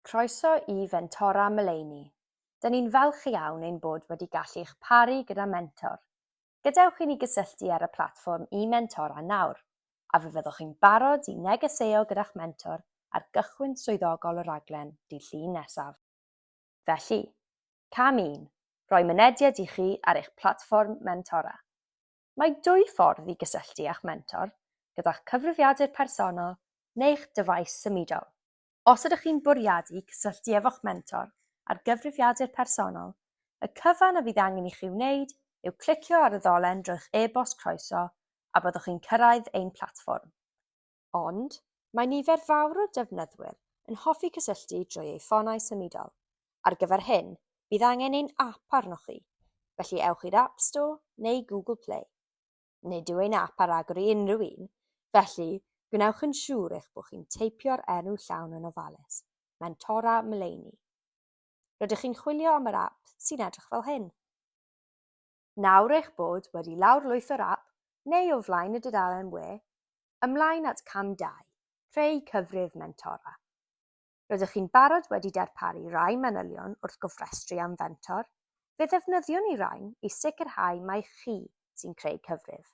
Croeso i Fentora Mullaney. Dyn ni'n falch iawn ein bod wedi gallu'ch paru gyda mentor. Gadewch i ni gysylltu ar y platfform e-Mentora nawr, a fe fyddwch chi'n barod i negeseuo gyda'ch mentor ar gychwyn swyddogol y rhaglen Dydd Llun nesaf. Felly, Cam un, Rhoi mynediad i chi ar eich platfform mentora. Mae dwy ffordd i gysylltu â'ch mentor, gyda'ch cyfrifiadur personol neu'ch dyfais symudol. Os ydych chi'n bwriadu cysylltu efo'ch mentor ar gyfrifiadur personol, y cyfan a fydd angen i chi wneud yw clicio ar y ddolen drwy'ch e-bost croeso a byddwch chi'n cyrraedd ein platfform. Ond, mae nifer fawr o defnyddwyr yn hoffi cysylltu drwy eu ffonau symudol. Ar gyfer hyn, bydd angen ein ap arnoch chi, felly ewch i'r App Store neu Google Play. nid yw ein ap ar agor i unrhyw un, felly gwnewch yn siŵr eich bod chi'n teipio'r enw llawn yn ofalus, Mentora Mullaney. Rydych chi'n chwilio am yr ap sy'n edrych fel hyn. Nawr eich bod wedi lawrlwytho'r ap, neu o flaen y dudalen we, ymlaen at cam 2, Creu Cyfrif Mentora. Rydych chi'n barod wedi darparu rai manylion wrth gofrestru am fentor? Fe ddefnyddiwn ni rain i sicrhau mai chi sy'n creu cyfrif.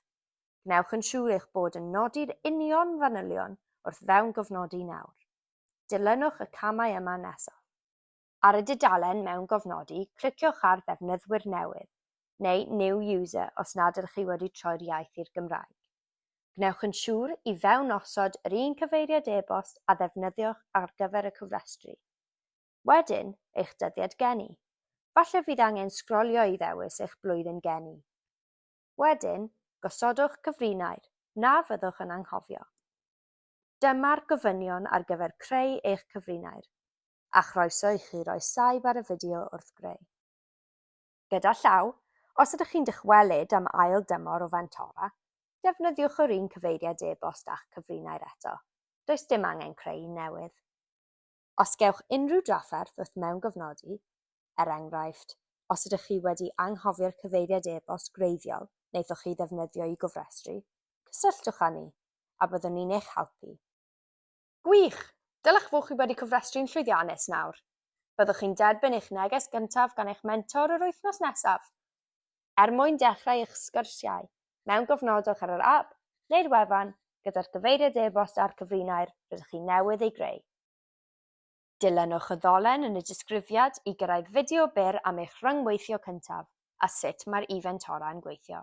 Gwnewch yn siŵr eich bod yn nodi'r union fanylion wrth fewngofnodi nawr. Dilynwch y camau yma nesaf. Ar y dudalen mewngofnodi, cliciwch ar Ddefnyddwyr Newydd, neu New User os nad ydych chi wedi troi'r iaith i'r Gymraeg. Gwnewch yn siŵr i fewn osod yr un cyfeiriad e-bost a ddefnyddiwch ar gyfer y cofrestru. Wedyn, eich dyddiad geni. Falle fydd angen sgrolio i ddewis eich blwyddyn geni. Wedyn, gosodwch cyfrinair, na fyddwch yn anghofio. Dyma'r gofynion ar gyfer creu eich cyfrinair, a chroeso i chi roi saib ar y fideo wrth greu. Gyda llaw, os ydych chi'n dychwelyd am ail dymor o Fantora, defnyddiwch yr un cyfeiriad e-bost a'ch cyfrinair eto, does dim angen creu un newydd. Os gewch unrhyw drafferth wrth mewngofnodi, er enghraifft, os ydych chi wedi anghofio'r cyfeiriad e-bost gwreiddiol wnaethoch chi ddefnyddio i gofrestru, cysylltwch â ni, a byddwn ni'n eich helpu. Gwych! Dylech fod chi wedi cofrestru'n llwyddiannus nawr. Byddwch chi'n derbyn eich neges gyntaf gan eich mentor yr wythnos nesaf. Er mwyn dechrau eich sgyrsiau mewn cofnodwch ar yr ap neu'r wefan gyda'r cyfeiriad e-bost a'r cyfrinair rydych chi newydd ei greu. Dilynwch y ddolen yn y disgrifiad i gyrraedd fideo byr am eich rhyngweithio cyntaf a sut mae'r e-fentora'n gweithio.